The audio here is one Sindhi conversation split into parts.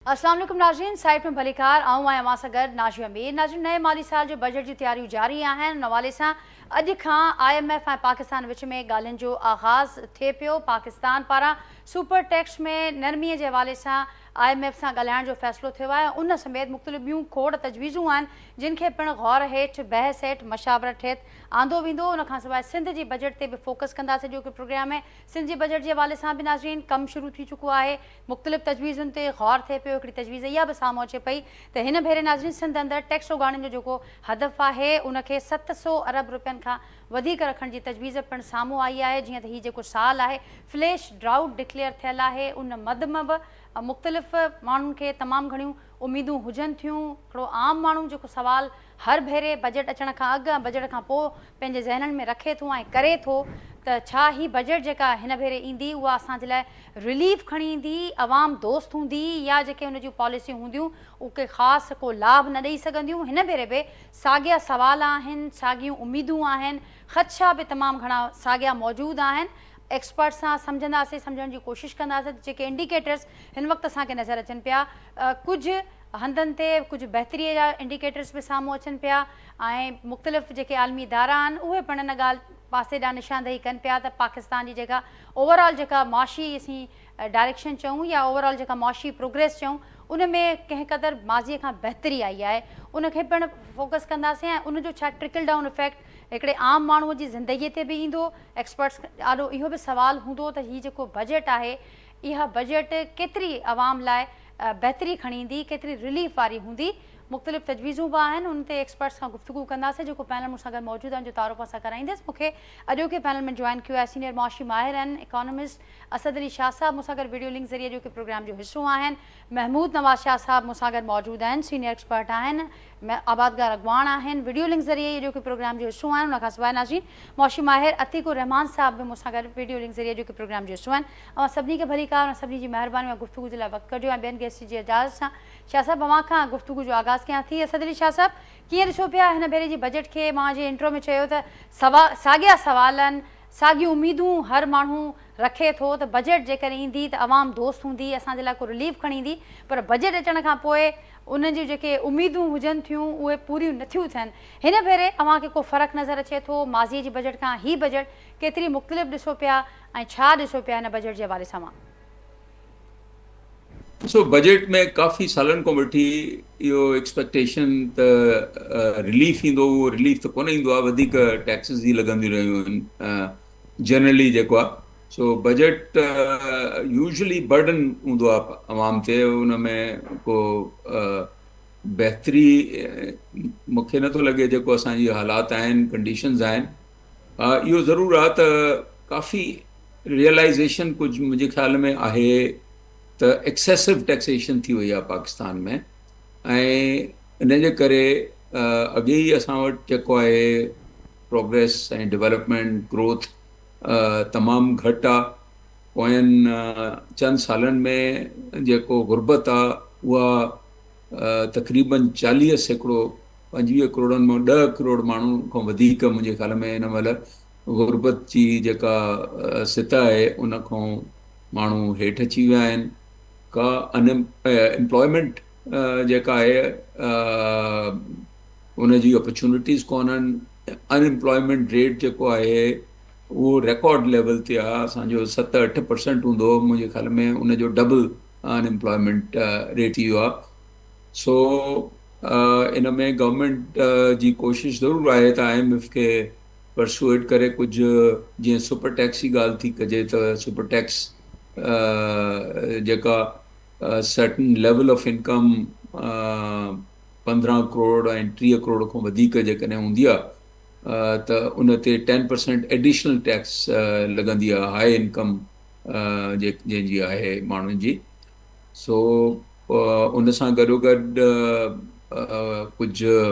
السلام عليڪم ناظرين سائيٽ ۾ ڀليڪار آئون آهيان اوهان سان گڏ ناظرين مير ناظرين نئين مالي سال جو بجيٽ جي تياريون جاري آهن ان حوالي سان اڄ کان آء ايم ايف ۽ پاڪستان وچ ۾ ڳالهين جو آغاز ٿئي پيو پاڪستان پاران سپر ٽيڪس ۾ نرمي جي حوالي سان آء ايم ايف سان ڳالهائڻ جو فيصلو ٿيو آهي ان سميت مختلف ٻيون کوڙ تجويزون آهن جن کي پڻ غور هيٺ بحث هيٺ مشاورت هيت آندو ويندو ان کان سواء سنڌ جي بجيٽ تي به فوڪس ڪندا سي جو ڪي پروگرام ۾ سنڌ جي بجيٽ جي حوالي سان به ناظرين ڪم شروع ٿي چڪو آهي مختلف تجويزن تي غور ٿئي پيو هڪڙي تجويز اها به سامهون اچي پئي ته هن ڀيري ناظرين سنڌ اندر ٽيڪس اوڳاڙڻ جو جيڪو هدف آهي ان کي ست سو ارب روپين کان وڌيڪ رکڻ جي تجويز پڻ سامهون آئي آهي جيئن ته هي جيڪو سال آهي فليش ڊرائوٽ ڊڪليئر ٿيل آهي ان مد م به مختلف ماڻهن کي تمام گهڻيون اميدون هجن ٿيون هڪڙو عام ماڻهو جيڪو سوال هر ڀيري بجيٽ اچڻ کان اڳ ۽ بجيٽ کان پوء پنهنجي ذهنن ۾ رکي ٿو ۽ ڪري ٿو ته ڇا هي بجيٽ جيڪا هن ڀيري ايندي اها اسان جي لاء رليف کڻي ايندي، عوام دوست هوندي يا جيڪي ان جون پاليسيون هونديون اهو ڪي خاص ڪو لاڀ نه ڏئي سگهنديون، هن ڀيري به ساڳيا سوال آهن، ساڳيون اميدون آهن، خدشا به تمام گهڻا ساڳيا موجود آهن، ايڪسپرٽس سان سمجهنداسين، سمجهڻ جي ڪوشش ڪنداسين ته جيڪي انڊيڪيٽرز هن وقت اسان کي نظر اچن پيا ڪجهه. هنڌن تي ڪجهه بهتري جا انڊيڪيٽرز به سامهون اچن پيا ۽ مختلف جيڪي عالمي ادارا آهن اهي پڻ ان ڳالهه پاسي ڏانهن نشاندهي ڪن پيا ته پاڪستان جي جيڪا اوور آل جيڪا معاشي اسين ڊائريڪشن چئون يا اوور آل جيڪا معاشي پروگريس چئون ان ۾ ڪنهن قدر ماضي کان بهتري آئي آهي ان کي پڻ فوڪس ڪنداسين ۽ ان جو ڇا ٽرڪل ڊائون افيڪٽ هڪڙي عام ماڻهو جي زندگي تي به ايندو ايڪسپرٽس آڏو اهو به سوال هوندو ته هي جيڪو بجيٽ آهي اها بجيٽ ڪيتري عوام لاء بهتري کڻي ايندي، ڪيتري رليف واري هوندي، مختلف تجويزون به آهن، انهن تي ايڪسپرٽس سان گفتگو ڪنداسين، جيڪو پينل مون سان گڏ موجود آهن جو تعارف اسان ڪرائيندس، مون کي اڄوڪي پينل ۾ جوائن ڪيو آهي سينئر معاشي ماهر ۽ اڪانومسٽ اسد علي شاهه صاحب مون سان گڏ ويڊيو لنڪ ذريعي اڄوڪي پروگرام جو حصو آهن، محمود نواز شاهه صاحب مون سان گڏ موجود آهن سينئر ايڪسپرٽ آهن، آبادگار اڳواڻ آهن، ويڊيو لنڪ ذريعي اڄوڪي پروگرام جو حصو آهن، ان کانسواء ناظرين معاشي ماهر عتيق الرحمان صاحب به مون سان گڏ ويڊيو لنڪ ذريعي اڄوڪي پروگرام جو حصو آهن. اوهان سڀني کي ڀليڪار ۽ سڀني جي مهرباني مان گفتگو جي لاء وقت ڪڍيو ۽ ٻين گيسٽن جي اجازت سان شاهه صاحب اوهان کان گفتگو جو آغاز ڪيان ٿي اسد علي شاهه صاحب ڪيئن ڏسو پيا هن ڀيري جي بجيٽ کي مان جيئن انٽرو ۾ چيو ته سوا ساڳيا سوال آهن ساڳيون اميدون هر ماڻهو رکي ٿو ته بجيٽ جيڪڏهن ايندي ته عوام دوست هوندي اسان جي لاء ڪو رليف کڻي ايندي پر بجيٽ اچڻ کان پوء انهن جون جيڪي اميدون هجن ٿيون اهي پوريون نٿيون ٿين هن ڀيري اوهان کي ڪو فرق نظر اچي ٿو ماضي جي بجيٽ کان هي بجيٽ ڪيتري مختلف ڏسو پيا ۽ ڇا ڏسو پيا هن بجيٽ جي حوالي سان اوهان؟ ڏسو بجيٽ ۾ ڪافي سالن کان وٺي اهو ايڪسپيڪٽيشن ته رليف ايندو اهو رليف ته ڪونه ايندو آهي وڌيڪ ٽيڪسز ئي لڳنديون رهيون آهن جنرلي جيڪو آهي سو بجيٽ يوزلي برڊن هوندو آهي عوام تي ان ۾ ڪو بهتري مونکي نٿو لڳي جيڪو اسان جي حالات آهن ڪنڊيشنز آهن ها اهو ضرور آ ته ڪافي ريئلائيزيشن ڪجهه منهنجي خيال ۾ آهي ته ايڪسيسو ٽيڪسيشن ٿي وئي آ پاڪستان ۾ ۽ ان جي ڪري اڳي ئي اسان وٽ جيڪو آهي پروگريس ۽ ڊولپمينٽ گروٿ تمام گهٽ آ پوين چند سالن ۾ جيڪو غربت آ اها تقريبن چاليهه سيڪڙو پنجويهه ڪروڙن مان ڏهه ڪروڙ ماڻهو کان وڌيڪ منهنجي خيال ۾ هن مهل غربت جي جيڪا سطح آهي ان کان ماڻهو هيٺ اچي ويا آهن ڪا ان امپلائمينٽ جيڪا آهي ان جي اپرچونٽيز ڪونهن ان امپلائمينٽ ريٽ جيڪو آهي اهو ريڪارڊ ليول تي آهي اسانجو ست اٺ پرسنٽ هوندو هو منهنجي خيال ۾ ان جو ڊبل ان ايمپلائمينٽ ريٽ اهو آهي سو ان ۾ گورنمينٽ جي ڪوشش ضرور آهي ته آء ايم ايف کي پرسوئيڊ ڪري ڪجهه جيئن سپر ٽيڪس جي ڳالهه ٿي ڪجي ته سپر ٽيڪس جيڪا سرٽن ليول آف انڪم پندرهن ڪروڙ ۽ ٽيهه ڪروڙ کان وڌيڪ جيڪڏهن هوندي آهي ته ان تي ٽين پرسينٽ ايڊيشنل ٽيڪس لڳندي آهي هاء انڪم جنهن جي آهي ماڻهن جي سو ان سان گڏوگڏ ڪجهه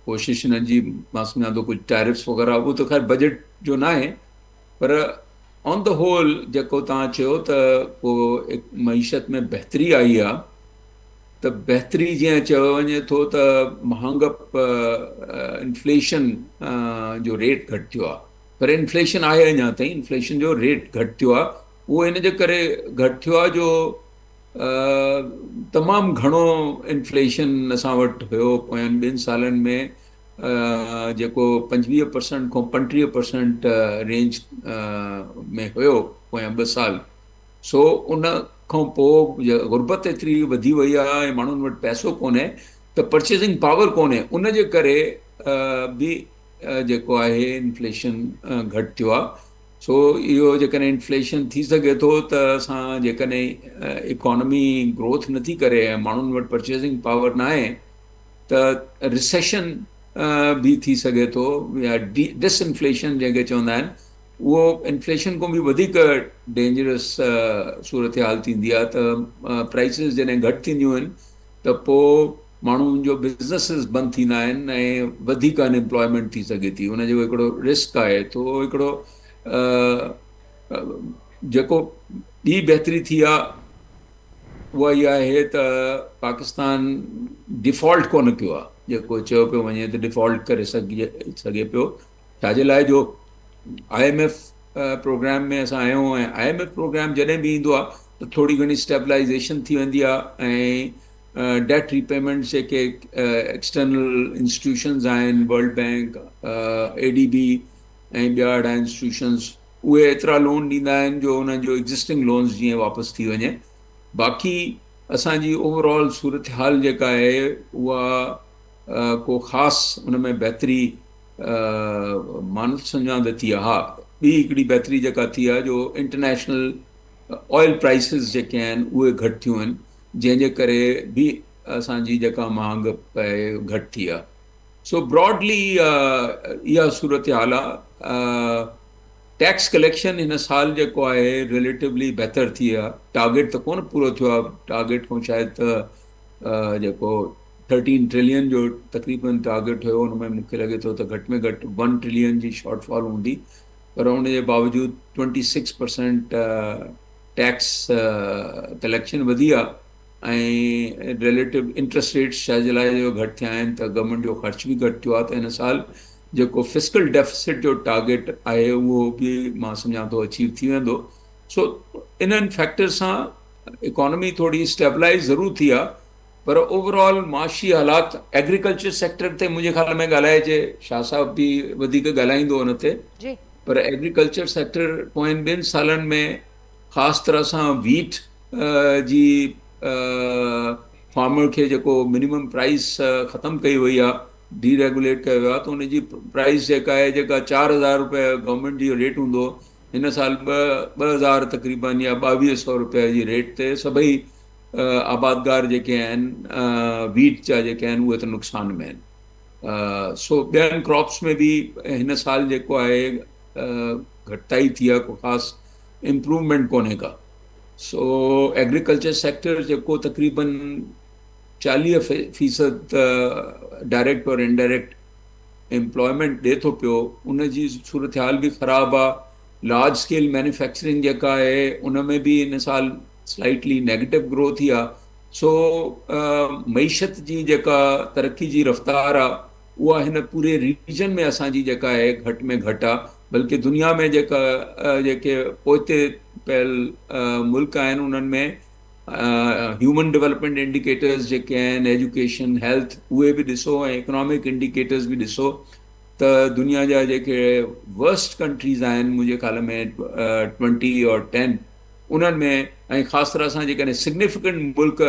ڪوشش هنن جي مان سمجهان ٿو ڪجهه ٽيرفس وغيرها اهو ته خير بجيٽ جو نه آهي پر آن د هول جيڪو توهان چيو ته ڪو معيشت ۾ بهتري آئي آهي ته بهتري جيئن چيو وڃي ٿو ته مهانگپ انفليشن جو ريٽ گهٽ ٿيو آهي پر انفليشن آهي اڃا تائين انفليشن جو ريٽ گهٽ ٿيو آهي اهو ان جي ڪري گهٽ ٿيو آهي جو تمام گهڻو انفليشن اسان وٽ هيو پوين ٻن سالن ۾ جيڪو پنجويهه پرسنٽ کان پنٽيهه پرسنٽ رينج ۾ هيو پويان ٻه سال سو ان کان پوء غربت ايتري وڌي وئي آهي ۽ ماڻهن وٽ پئسو ڪونهي ته پرچيزنگ پاور ڪونهي ان جي ڪري به جيڪو آهي انفليشن گهٽ ٿيو آهي سو اهو جيڪڏهن انفليشن ٿي سگهي ٿو ته اسان جيڪڏهن اڪانومي گروٿ نٿي ڪري ۽ ماڻهن وٽ پرچيزنگ پاور ناهي ته ريسيشن به ٿي سگهي ٿو يا ڊس انفليشن جنهن کي چوندا آهن اهو انفليشن کان به وڌيڪ ڊينجرس صورتحال ٿيندي آهي ته پرائسز جڏهن گهٽ ٿينديون آهن ته پوء ماڻهن جو بزنسز بند ٿيندا آهن ۽ وڌيڪ ان امپلائمينٽ ٿي سگهي ٿي ان جو هڪڙو رسڪ آهي ٿو هڪڙو جيڪو ٻي بهتري ٿي آهي اها اها آهي ته پاڪستان ڊيفالٽ ڪونه ڪيو آهي جيڪو چيو پيو وڃي ته ڊيفالٽ ڪري سگهجي سگهي پيو ڇاجي لاء جو آء ايم ايف پروگرام ۾ اسان آيون ۽ آء ايم ايف پروگرام جڏهن به ايندو آهي ته ٿوري گهڻي اسٽيبلائيزيشن ٿي ويندي آهي ۽ ڊيٽ ريپيمنٽس جيڪي ايڪسٽرنل انسٽيٽيوشنز آهن World Bank A D B ۽ ٻيا اهڙا انسٽيٽيوشنز اهي ايترا لون ڏيندا آهن جو انهن جو ايگزسٽنگ لونز جيئن واپس ٿي وڃي باقي اسان جي اوور آل صورتحال جيڪا آهي اها ڪو خاص ان ۾ بهتري مان سڃاند ٿي آهي. ٻي هڪڙي بهتري جيڪا ٿي آهي جو انٽرنيشنل آئل پرائسز جيڪي آهن اهي گهٽ ٿيون آهن جنهن جي ڪري به اسان جي جيڪا مهانگ پئي گهٽ ٿي آهي سو براڊلي اها صورتحال آهي ٽيڪس ڪليڪشن هن سال جيڪو آهي ريليٽولی بهتر ٿي آهي ٽارگيٽ ته ڪونه پورو ٿيو آهي ٽارگيٽ کان شايد ته جيڪو ٿرٽين ٽريلين جو تقريبن ٽارگيٽ هيو ان ۾ مون کي لڳي ٿو ته گهٽ ۾ گهٽ ون ٽريلين جي شارٽ فال هوندي پر ان جي باوجود twenty six percent tax collection وڌي آهي ۽ ريليٽو انٽرسٽ ريٽس شايد جي لاء جو گهٽ ٿيا آهن ته گورنمينٽ جو خرچ به گهٽ ٿيو آهي ته هن سال جيڪو فسڪل ڊيفسٽ جو ٽارگيٽ آهي اهو به مان سمجهان ٿو اچيو ٿي ويندو سو انهن فيڪٽر سان اڪانومي ٿوري اسٽيبلائز ضرور ٿي آهي پر اوورآل معاشي حالات ايگريڪلچر سيڪٽر تي منهنجي خيال ۾ ڳالهائجي شاهه صاحب به وڌيڪ ڳالهائيندو ان تي جي پر ايگريڪلچر سيڪٽر پوين ٻن سالن ۾ خاص طرح سان ويٽ جي فارمر کي جيڪو منيمم پرائز ختم ڪئي وئي آهي ڊي ريگوليٽ ڪيو ويو آهي ته ان جي پرائز جيڪا آهي جيڪا چار هزار روپيه گورنمنٽ جي ريٽ هوندو هن سال ٻه ٻه هزار تقريبن يا ٻاويهه سؤ روپيه جي ريٽ تي سڀئي آبادگار جيڪي آهن ويٽ جا جيڪي آهن اهي ته نقصان ۾ آهن سو ٻين ڪراپس ۾ به هن سال جيڪو آهي گهٽتائي ٿي آهي ڪو خاص امپروومينٽ ڪونهي ڪا سو ايگريڪلچر سيڪٽر جيڪو تقريبن چاليهه فيصد ڊائريڪٽ اور انڊائريڪٽ امپلائمينٽ ڏي ٿو پيو ان جي صورتحال به خراب آهي لارج اسڪيل مينوفيڪچرنگ جيڪا آهي ان ۾ به هن سال سلائيٽلي نيگيٽو گروٿ ئي آ سو معيشت جي جيڪا ترقي جي رفتار آ اها هن پوري ريجن ۾ اسان جي جيڪا آهي گهٽ ۾ گهٽ آ بلڪه دنيا ۾ جيڪا جيڪي پوئتي پيل ملڪ آهن انهن ۾ هيومن ڊولپمينٽ انڊيڪيٽرز جيڪي آهن ايجوڪيشن هيلٿ اهي به ڏسو ۽ اڪنامڪ انڊيڪيٽرز به ڏسو ته دنيا جا جيڪي ورسٽ ڪنٽريز آهن منهنجي خيال ۾ ٽوئنٽي اور ٽين انهن ۾ ۽ خاص طرح سان جيڪڏهن سگنيفڪنٽ ملڪ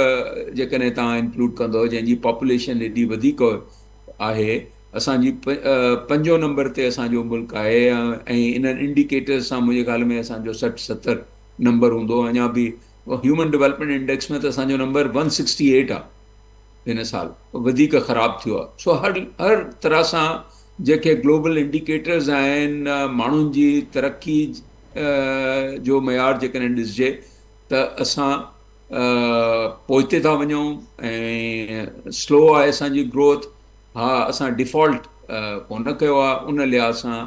جيڪڏهن توهان انڪلوڊ ڪندؤ جنهن جي پاپوليشن ايڏي وڌيڪ آهي اسان جي پنجون نمبر تي اسان جو ملڪ آهي ۽ انهن انڊيڪيٽرز سان منهنجي خيال ۾ اسان جو سٺ ستر نمبر هوندو اڃا به هيومن ڊولپمينٽ انڊيڪس ۾ ته اسان جو نمبر ون سڪسٽي ايٽ آهي هن سال وڌيڪ خراب ٿيو آهي سو هر هر طرح سان جيڪي گلوبل انڊيڪيٽرز آهن ماڻهن جي ترقي جو معيار جيڪڏهن ڏسجي ته اسان پوئتي ٿا وڃون ۽ سلو آهي اسان جي گروٿ ها اسان ڊيفالٽ ڪونه ڪيو آهي ان لحاظ سان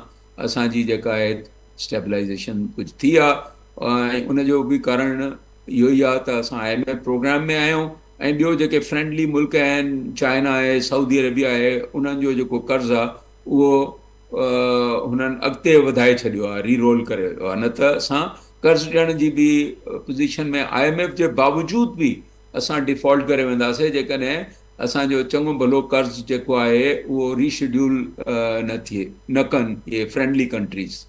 اسان جي جيڪا آهي اسٽيبلائيزيشن ڪجهه ٿي آهي ۽ ان جو به ڪارڻ اهو ئي آهي ته اسان آء ايم ايف پروگرام ۾ آهيون ۽ ٻيو جيڪي فرينڊلي ملڪ آهن چائنا آهي سعودي عربيا آهي انهن جو جيڪو قرض آهي اهو هنن اڳتي وڌائي ڇڏيو آهي ري رول ڪري ويو آهي نه ته اسان قرض ڏيڻ جي به پوزيشن ۾ آء ايم ايف جي باوجود به اسان ڊيفالٽ ڪري وينداسين جيڪڏهن اسان جو چڱو ڀلو قرض جيڪو آهي اهو ري شيڊيول نه ٿئي نه ڪن اهي فرينڊلي ڪنٽريز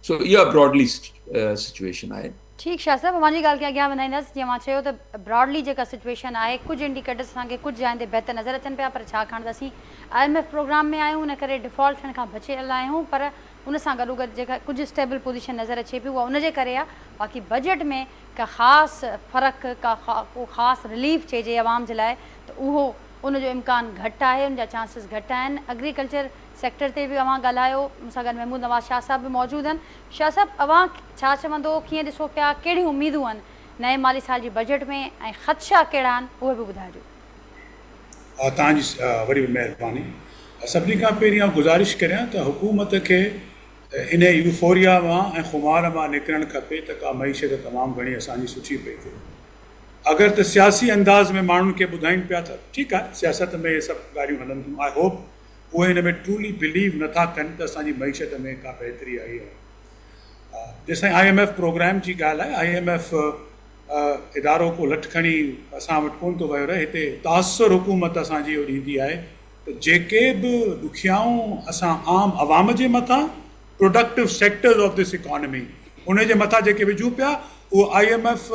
سو اها براڊلي سچويشن آهي ٺيڪ شاهه صاحب اوهان جي ڳالهه کي اڳيان وڌائيندس جيئن اوهان چيو ته براڊلي جيڪا سچوئيشن آهي ڪجهه انڊيڪيٽرس اسان کي ڪجهه جاين تي بهتر نظر اچن پيا پر ڇاڪاڻ ته اسين آء ايم ايف پروگرام ۾ آهيون ان ڪري ڊفالٽ ٿيڻ کان بچيل آهيون پر ان سان گڏوگڏ جيڪا ڪجهه اسٽيبل پوزيشن نظر اچي پئي اها ان جي ڪري آهي باقي بجيٽ ۾ ڪا خاص فرق ڪا ڪو خاص رليف چئجي عوام جي لاء ته اهو ان جو امڪان گهٽ آهي ان جا چانسز گهٽ آهن اگريڪلچر سيڪٽر تي به اوهان ڳالهايو مون سان گڏ محمود نواز شاهه صاحب به موجود آهن شاهه صاحب اوهان ڇا چوندو ڪيئن ڏسو پيا ڪهڙيون اميدون هن نئين مالي سال جي بجيٽ ۾ ۽ خدشا ڪهڙا آهن اهي به ٻڌائجو. ها توهان جي وري به مهرباني سڀني کان پهرين آئون گذارش ڪريان ته حڪومت کي انهي يوفوريا مان ۽ خمار مان نڪرڻ کپي ته ڪا معيشت تمام گهڻي اسان جي سٺي پئي ٿئي اگر ته سياسي انداز ۾ ماڻهن کي ٻڌائين پيا ته ٺيڪ آهي سياست ۾ اهي سڀ ڳالهيون هلن ٿيون آئي هوپ اهي ان ۾ ٽرولي بليو نه ٿا ڪن ته اسان جي معيشت ۾ ڪا بهتري آئي آهي. جيسين آء ايم ايف پروگرام جي ڳالهه آهي، آء ايم ايف ادارو ڪو لٺ کڻي اسان وٽ ڪونه ٿو ويو رهي، هتي تاثر حڪومت اسان جي اهو ڏيندي آهي ته جيڪي به ڏکيائون اسان عام عوام جي مٿان productive sectors of this economy ان جي مٿان جيڪي وجهون پيا اهو آء ايم ايف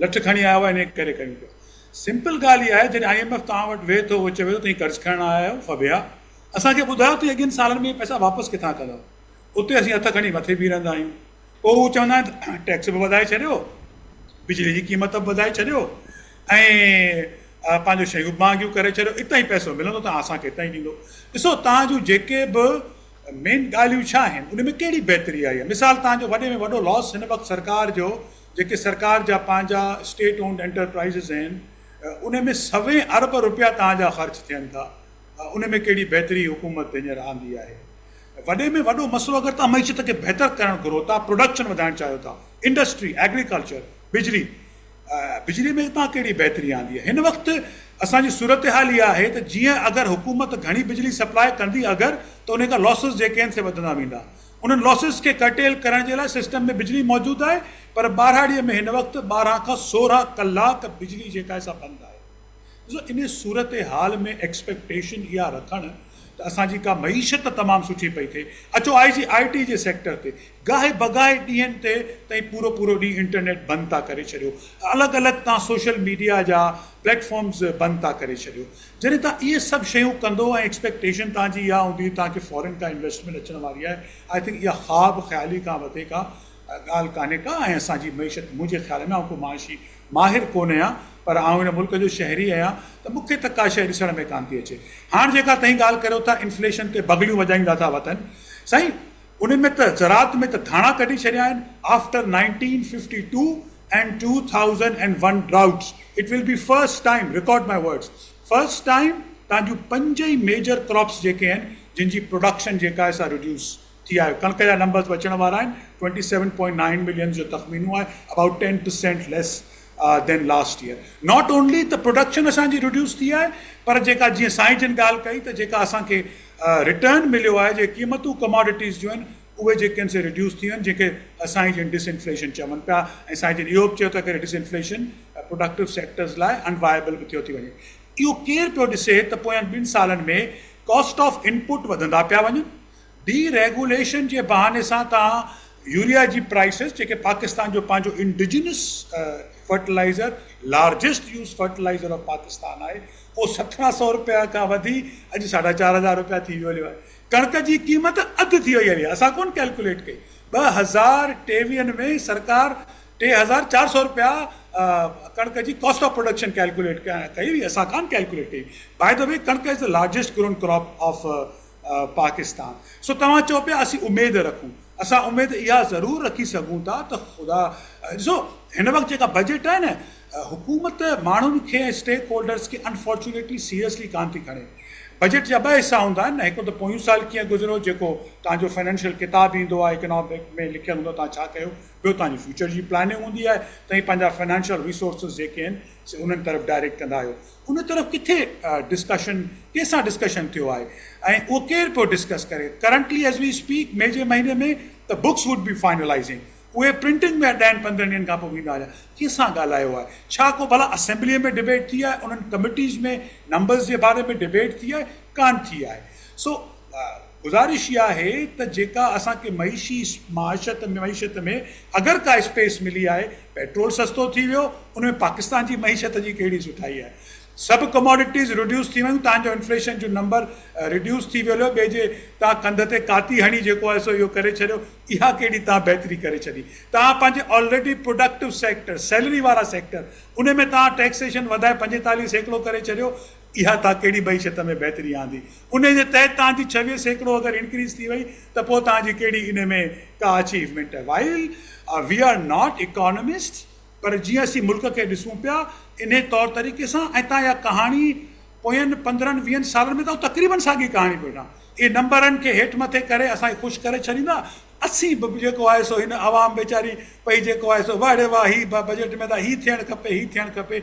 لٺ کڻي آيو آهي ان ڪري ڪيون پيا. سمپل ڳالهه اها آهي جڏهن آء ايم ايف توهان وٽ ويهي ٿو اهو چوي ٿو توهين قرض کڻڻ آيا آهيو ڦٻيا اسان کي ٻڌايو توهين اڳين سالن ۾ اهي پئسا واپس ڪٿان ڪندؤ اتي اسين هٿ کڻي مٿي بيهي رهندا آهيون پوء هو چوندا آهن ته ٽيڪس به وڌائي ڇڏيو بجلي جي قيمت به وڌائي ڇڏيو ۽ پنهنجو شيون به مهانگيون ڪري ڇڏيو اتان ئي پئسو ملندو ته اسان کي اتان ئي ڏيندو ڏسو توهان جون جيڪي به مين ڳالهيون ڇا آهن ان ۾ ڪهڙي بهتري آئي آهي مثال توهان جو وڏي ۾ وڏو لاس هن وقت سرڪار جو جيڪي سرڪار جا پنهنجا اسٽيٽ اونڊ انٽرپرائيزز آهن ان ۾ سوين ارب روپيا توهان جا خرچ ٿين ٿا ان ۾ ڪهڙي بهتري حڪومت هينئر آندي آهي وڏي ۾ وڏو مسئلو اگر توهان معيشت کي بهتر ڪرڻ گهرو ٿا پروڊڪشن وڌائڻ چاهيو ٿا انڊسٽري ايگريڪلچر بجلي بجلي ۾ توهان ڪهڙي بهتري آندي آهي هن وقت اسان جي صورتحال اها آهي ته جيئن اگر حڪومت گهڻي بجلي سپلاء ڪندي اگر ته ان کان لاسز جيڪي آهن سي وڌندا ويندا انهن لاسز کي ڪرٽيل ڪرڻ جي لاء سسٽم ۾ بجلي موجود آهي پر ٻاراڙي ۾ هن وقت ٻارهن کان سورهن ڪلاڪ بجلي جيڪا آهي سا بند آهي ڏسو ان صورتحال ۾ ايڪسپيڪٽيشن اها رکڻ ته اسان جي ڪا معيشت ته تمام سٺي پئي ٿئي اچو آء جي آء ٽي جي سيڪٽر تي گاهي بگاهي ڏينهن تي تائين پورو پورو ڏينهن انٽرنيٽ بند ٿا ڪري ڇڏيو الڳ الڳ تان سوشل ميڊيا جا پليٽ فارمز بند ٿا ڪري ڇڏيو جڏهن توهان اهي سڀ شيون ڪندو ۽ ايڪسپيڪٽيشن توهان جي اها هوندي توهان کي فارين کان انويسٽمينٽ اچڻ واري آهي آء ٿنڪ اها خواب خيالي کان وڌيڪ ڪا ڳالهه ڪانهي ڪا ۽ اسان جي معيشت منهنجي خيال ۾ آئون ڪو معاشي ماهر ڪونه آهيان پر آئون هن ملڪ جو شهري آهيان ته مون کي ته ڪا شيء ڏسڻ ۾ ڪانه ٿي اچي هاڻ جيڪا تهين ڳالهه ڪريو ٿا انفليشن تي بغليون وڄائيندا ٿا وتن سائين ان ۾ ته زراعت ۾ ته ڌاڻا ڪڍي ڇڏيا آهن after nineteen fifty two and two thousand and one droughts it will be first time record my words first time تان جون پنج ئي ميجر ڪراپس جيڪي آهن جن جي پروڊڪشن جيڪا آهي سا ريڊيوس ٿي آهي ڪڻڪ جا نمبرس به اچڻ وارا آهن twenty seven point nine millions جو تخمينو آهي about ten percent less than last year not only ته پروڊڪشن اسان جي رڊيوس ٿي آهي پر جيڪا جيئن سائين جن ڳالهه ڪئي ته جيڪا اسان کي رٽرن مليو آهي جي قيمتون ڪماڊٽيز جون آهن اهي جيڪي آهن سي رڊيوس ٿيون آهن جنهن کي سائين جن ڊس انفليشن چون پيا ۽ سائين جن اهو به چيو ته اگر ڊس انفليشن پروڊڪٽو سيڪٽرز لاء ان وائبل به ٿيو ٿي وڃي اهو ڪير پيو ڏسي ته پوين ٻن سالن ۾ ڪاسٽ آف انپوٽ وڌندا پيا وڃن ڊي ريگوليشن جي بهاني سان توهان يوريا جي پرائسز جيڪي پاڪستان جو پنهنجو indigenous fertiliser largest use fertiliser of Pakistan آهي اهو سترهن سئو روپيا کان وڌي اڄ ساڍا چار هزار روپيا ٿي ويو آهي ڪڻڪ جي قيمت اڌ ٿي وئي آهي اسان ڪون ڪيلڪوليٽ ڪئي ٻه هزار ٽيويهن ۾ سرڪار ٽي هزار چار سئو روپيا ڪڻڪ جي ڪاسٽ آف پروڊڪشن ڪيلڪوليٽ ڪئي هئي اسان ڪان ڪيلڪوليٽ ڪئي باء دا وي ڪڻڪ is the largest grown crop of Pakistan سو توهان چئو پيا اسين اميد رکون اسان اميد اها ضرور رکي سگهون ٿا ته خدا ڏسو هن وقت جيڪا بجيٽ آهي نه حڪومت ماڻهن کي اسٽيڪ هولڊرز کي انفارچونيٽلي سيريسلي ڪان ٿي کڻي بجيٽ جا ٻه حصا هوندا آهن نه هڪ ته پويون سال ڪيئن گذريو جيڪو توهان جو فنانشل ڪتاب ايندو آهي اڪنامڪ ۾ لکيل هوندو توهان ڇا ڪيو ٻيو توهان جي فيوچر جي پلاننگ هوندي آهي توهان پنهنجا فنانشل ريسورسز جيڪي آهن سي انهن طرف ڊائريڪٽ ڪندا آهيو ان طرف ڪٿي ڊسڪشن ڪنهن سان ڊسڪشن ٿيو آهي ۽ اهو ڪير پيو ڊسڪس ڪري currently as we speak May جي مهيني ۾ ته بڪس ووڊ بي فائنلائزنگ اهي پرنٽنگ ۾ ڏهن پندرهن ڏينهن کان پوء ويندا هليا ڪنهن سان ڳالهايو آهي ڇا ڪو ڀلا اسيمبلي ۾ ڊبيٽ ٿي آهي انهن ڪميٽيز ۾ نمبرز جي باري ۾ ڊبيٽ ٿي آهي ڪانه ٿي آهي سو گذارش اها آهي ته جيڪا اسان کي معيشي معاشت معيشت ۾ اگر ڪا اسپيس ملي آهي پيٽرول سستو ٿي ويو ان ۾ پاڪستان جي معيشت جي ڪهڙي سٺائي آهي سڀ ڪموڊٽيز رڊيوس ٿي ويون تهان جو انفليشن جو نمبر رڊيوس ٿي ويو ليو ٻئي جي تهان ڪنڌ تي ڪاتي هڻي جيڪو آهي سو اهو ڪري ڇڏيو اها ڪهڙي تهان بهتري ڪري ڇڏي تهان پنهنجي آلريڊي پروڊڪٽو سيڪٽر سيلري وارا سيڪٽر ان ۾ تهان ٽيڪسيشن وڌائي پنجيتاليهه سيڪڙو ڪري ڇڏيو اها توهان ڪهڙي معيشت ۾ بهتري آندي انهي جي تحت توهان جي ڇويهه سيڪڙو اگر انڪريز ٿي وئي ته پوء توهان جي ڪهڙي انهي ۾ ڪا اچيومينٽ آهي while we are not economist پر جيئن اسين ملڪ کي ڏسون پيا انهي طور طريقي سان ۽ توهان اها ڪهاڻي پوين پندرهن ويهن سالن ۾ توهان تقريبن ساڳي ڪهاڻي پيو ٺاهه اهي نمبرن کي هيٺ مٿي ڪري اسان کي خوش ڪري ڇڏيندا اسين به جيڪو آهي سو هن عوام ويچاري پئي جيڪو آهي سو واهڙي واه هي بجيٽ ۾ ته هي ٿيڻ کپي هي ٿيڻ کپي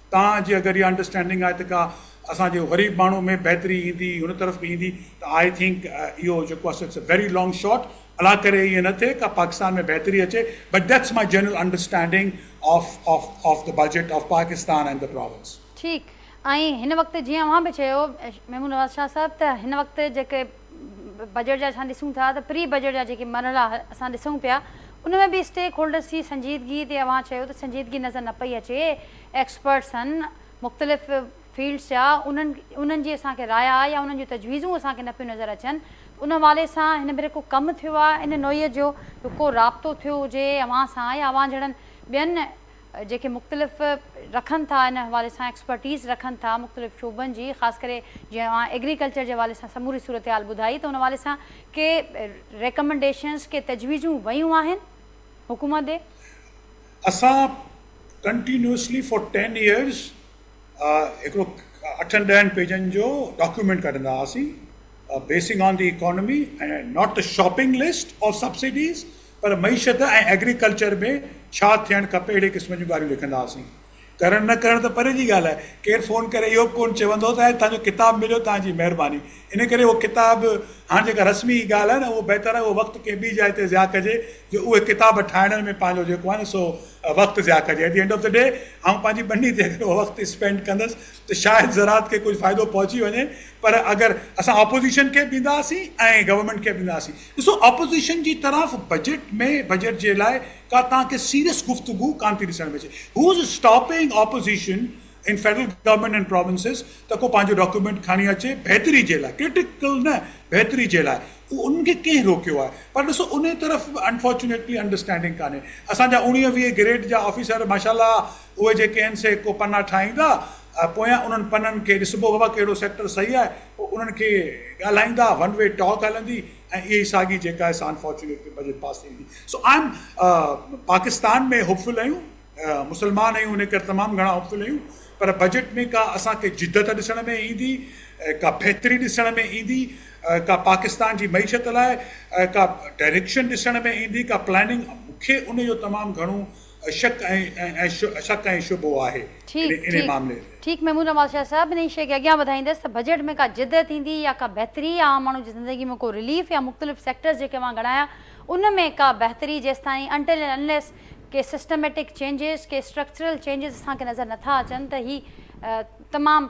توهان جي اگر اها انڊرسٽينڊنگ آهي ته ڪا اسان جي غريب ماڻهو ۾ بهتري ايندي ان طرف به ايندي ته آء ٿنڪ اهو جيڪو آهي سو it's a very long shot الله ڪري ائين نه ٿئي ڪا پاڪستان ۾ بهتري اچي but that's my general understanding of of of the budget of Pakistan and the province. ٺيڪ ۽ هن وقت جيئن اوهان به چيو ميمون نواز شاهه صاحب ته هن وقت جيڪي بجيٽ جا اسان ڏسون ٿا ته پري بجيٽ جا جيڪي مرحلا اسان ڏسون پيا ان ۾ به اسٽيڪ هولڊرز جي سنجيدگي تي اوهان چيو ته سنجيدگي نظر نه پئي اچي ايڪسپرٽس آهن مختلف فيلڊز جا انهن انهن جي اسان کي راء يا انهن جون تجويزون اسان کي نه پيون نظر اچن ته ان حوالي سان هن ڀيري ڪو ڪم ٿيو آهي ان نوعيت جو ڪو رابطو ٿيو هجي اوهان سان يا اوهان جهڙن ٻين جيڪي مختلف رکن ٿا ان حوالي سان ايڪسپرٽيز رکن ٿا مختلف شعبن جي خاص ڪري جيئن اوهان ايگريڪلچر جي حوالي سان سموري صورتحال ٻڌائي ته ان حوالي سان ڪي ريڪمنڊيشنز ڪي تجويزون ويون آهن حڪومت ڏي؟ اسان ڪنٽينيوسلي فار ٽين ايئرز هڪڙو اٺن ڏهن پيجن جو ڊاڪيومينٽ ڪڍندا هئاسين basing on the economy ۽ not the shopping list of subsidies پر معيشت ۽ ايگريڪلچر ۾ ڇا ٿيڻ کپي اهڙي قسم جون ڳالهيون لکندا هئاسين. ڪرڻ نه ڪرڻ ته پري جي ڳالهه آهي، ڪير فون ڪري اهو به ڪونه چوندو ته توهان جو ڪتاب مليو توهان جي مهرباني. ان ڪري اهو ڪتاب هاڻ جيڪا رسمي ڳالهه آهي نه اهو بهتر آهي اهو وقت ڪنهن ٻي جاء تي ضياء ڪجي جو اهي ڪتاب ٺاهڻ ۾ پنهنجو جيڪو آهي نه سو وقت ضياء ڪجي at the end of the day آئون پنهنجي ٻني تي اگر اهو وقت اسپينڊ ڪندس ته شايد زراعت کي ڪجهه فائدو پهچي وڃي پر اگر اسان آپوزيشن کي به ڏيندا هئاسين ۽ گورنمينٽ کي به ڏيندا هئاسين ڏسو اپوزيشن جي طرف بجيٽ ۾ بجيٽ جي لاء ڪا توهان کي سيريس گفتگو ڪانه ٿي ڏسڻ ۾ اچي who is stopping opposition in federal government and provinces ته ڪو پنهنجو ڊاڪيومينٽ کڻي اچي بهتري جي لاء ڪرٽيڪل نه بهتري جي لاء انهن کي ڪنهن روڪيو آهي پر ڏسو انهي طرف به انفارچونيٽلي انڊرسٽينڊنگ ڪانهي اسان جا اوڻيهه ويهه گريڊ جا آفيسر ماشاء الله اهي جيڪي آهن سي ڪو پنا ٺاهيندا آهي پويان انهن پنن کي ڏسبو بابا ڪهڙو سيڪٽر صحيح آهي پوء انهن کي ڳالهائيندا ون وي ٽاڪ هلندي ۽ اها ئي ساڳي جيڪا آهي سا انفارچونيٽ بجيٽ پاس ٿي ويندي سو I am Pakistan ۾ hopeful آهيون مسلمان آهيون ان ڪري تمام گهڻا هوپ فل آهيون پر بجيٽ ۾ ڪا اسان کي جدت ڏسڻ ۾ ايندي ڪا بهتري ڏسڻ ۾ ايندي ڪا پاڪستان جي معيشت لاء ڪا ڊائريڪشن ڏسڻ ۾ ايندي ڪا پلاننگ مونکي ان جو تمام گهڻو شڪ ۽ شڪ ۽ شبهو آهي انهي معاملي ۾. ٺيڪ محمود نواز شاهه صاحب انهي شيء کي اڳيان وڌائيندس ته بجيٽ ۾ ڪا جدت ايندي يا ڪا بهتري يا عام ماڻهو جي زندگي ۾ ڪو رليف يا مختلف سيڪٽرز جيڪي اوهان ڳڻايا ان ۾ ڪا بهتري جيستائين انٽل اينڊ انليس ڪي سسٽميٽڪ چينجز ڪي اسٽرڪچرل چينجز اسان کي نظر نٿا اچن ته هي تمام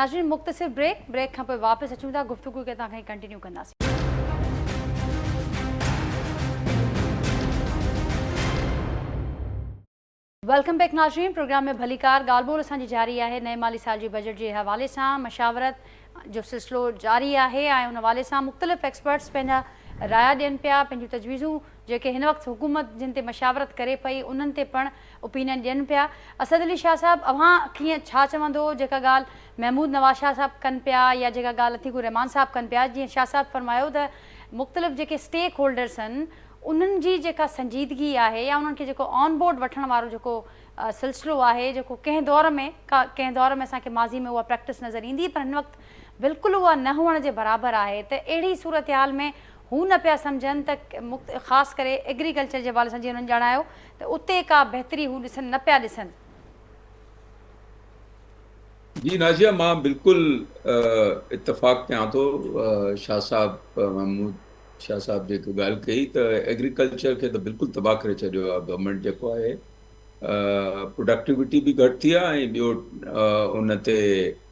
ناظرين مختصر بريڪ بريڪ کان پوء واپس اچون ٿا گفتگو کي اتان کان ئي ڪنٽينيو ڪنداسين. ويلڪم بيڪ ناظرين پروگرام ۾ ڀليڪار ڳالهه ٻولهه اسان جي جاري آهي نئين مالي سال جي بجيٽ جي حوالي سان مشاورت جو سلسلو جاري آهي ۽ ان حوالي سان مختلف ايڪسپرٽس پنهنجا رايا ڏين پيا پنهنجون تجويزون جيڪي هن وقت حڪومت جن تي مشاورت ڪري پئي انهن تي پڻ اوپينين ڏين پيا. اسد علي شاهه صاحب اوهان کين ڇا چوندو جيڪا ڳالهه محمود نواز شاهه صاحب ڪن پيا يا جيڪا ڳالهه عتيق الرحمان صاحب ڪن پيا جيئن شاهه صاحب فرمايو ته مختلف جيڪي اسٽيڪ هولڊرس آهن انهن جي جيڪا سنجيدگي آهي يا انهن کي جيڪو آن بورڊ وٺڻ وارو جيڪو سلسلو آهي جيڪو ڪنهن دور ۾ ڪنهن دور ۾ اسان کي ماضي ۾ اها پريڪٽس نظر ايندي پر هن وقت بلڪل اها نه هئڻ جي برابر آهي ته اهڙي صورتحال ۾ هو نه پيا سمجهن ته خاص ڪري ايگريڪلچر جي حوالي سان جيئن هنن ڄاڻايو ته اتي ڪا بهتري هو ڏسن نه پيا ڏسن. جي نازيه مان بلڪل اتفاق ڪيان ٿو شاهه صاحب محمود شاهه صاحب جيڪي ڳالهه ڪئي ته ايگريڪلچر کي ته بلڪل تباهه ڪري ڇڏيو آهي گورنمينٽ جيڪو آهي پروڊڪٽيوٽي به گهٽ ٿي آهي ۽ ٻيو ان تي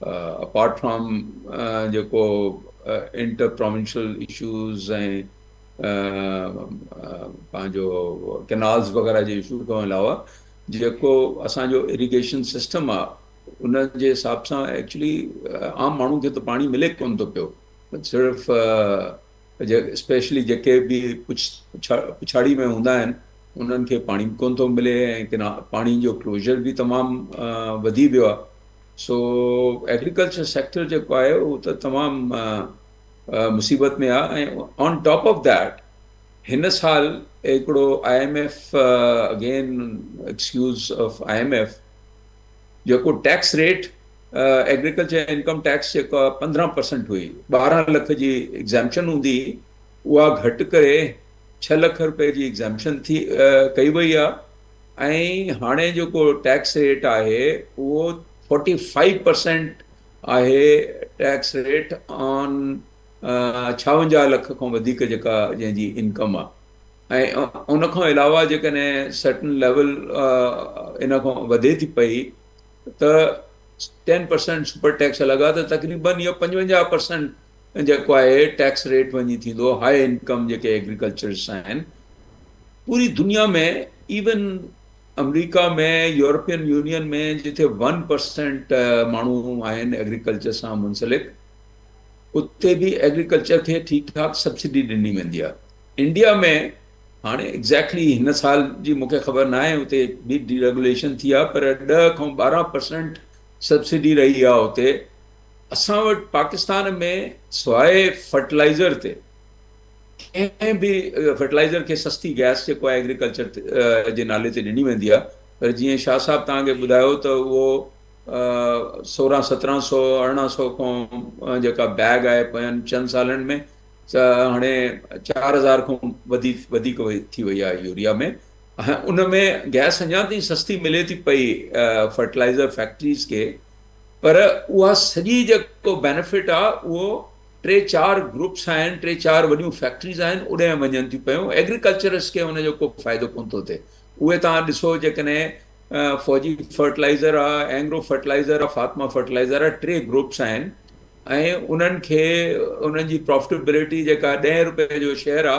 اپارٽ فرام جيڪو انٽر پراونشل اشوز ۽ پنهنجو ڪينالز وغيرہ جي اشو کان علاوه جيڪو اسان جو ايريگيشن سسٽم آ ان جي حساب سان ايڪچولي عام ماڻهو کي ته پاڻي ملي ڪون ٿو پيو صرف اسپيشلي جيڪي به پڇاڙي ۾ هوندا آهن انهن کي پاڻي به ڪون ٿو ملي ۽ پاڻي جو ڪلوزر به تمام وڌي ويو آ سو ايگريڪلچر سيڪٽر جيڪو آهي اهو ته تمام مصيبت ۾ آهي ۽ آن ٽاپ آف ديٽ هن سال هڪڙو I M F again excuse of I M F جيڪو tax rate agriculture income tax جيڪو آه پندرهن پرسنٽ هئي ٻارهن لک جي ايگزامشن هوندي اها گهٽ ڪري ڇهه لک روپيه جي ايگزامشن ٿي ڪئي وئي آهي ۽ هاڻي جيڪو ٽيڪس ريٽ آهي اهو فورٽي فائيو پرسينٽ آهي ٽيڪس ريٽ آن ڇاونجاهه لک کان وڌيڪ جيڪا جنهن جي انڪم آهي ۽ ان کان علاوه جيڪڏهن سرٽن ليول ان کان وڌي ٿي پئي ته ٽين پرسينٽ سپر ٽيڪس لڳا ته تقريبن اهو پنجونجاهه پرسينٽ ۽ جيڪو آهي ٽيڪس ريٽ وڃي ٿيندو هاء انڪم جيڪي ايگريڪلچرس آهن پوري دنيا ۾ ايون امريڪا ۾ يورپين يونين ۾ جتي ون پرسينٽ ماڻهو آهن ايگريڪلچر سان منسلڪ اتي به ايگريڪلچر کي ٺيڪ ٺاڪ سبسڊي ڏني ويندي آهي انڊيا ۾ هاڻي ايگزيڪٽلي هن سال جي مونکي خبر نه آهي اتي به ڊي ريگوليشن ٿي آهي پر ڏهه کان ٻارهن پرسنٽ سبسڊي رهي آهي اتي اسان وٽ پاڪستان ۾ سواء فرٽلائيزر تي ڪنهن به فرٽلائيزر کي سستي گئس جيڪو آهي ايگريڪلچر جي نالي تي ڏني ويندي آهي پر جيئن شاهه صاحب توهان کي ٻڌايو ته اهو سورهن سترهن سو ارڙهن سو کان جيڪا بيگ آهي پوين چند سالن ۾ هاڻي چار هزار کان وڌيڪ ٿي وئي آهي يوريا ۾ ان ۾ گئس اڃا تائين سستي ملي ٿي پئي فرٽلائيزر فيڪٽريز کي پر اها سڄي جيڪو بينيفٽ آ اهو ٽي چار گروپس آهن ٽي چار وڏيون فيڪٽريز آهن اوڏانهن وڃن ٿيون پيون ايگريڪلچرسٽ کي ان جو ڪو فائدو ڪونه ٿو ٿئي اهي توهان ڏسو جيڪڏهن فوجي فرٽلائيزر آ اينگرو فرٽلائيزر آ فاطمه فرٽلائيزر آ ٽي گروپس آهن ۽ انهن کي انهن جي پرافٽيبلٽي جيڪا ڏهين روپئي جو شيئر آ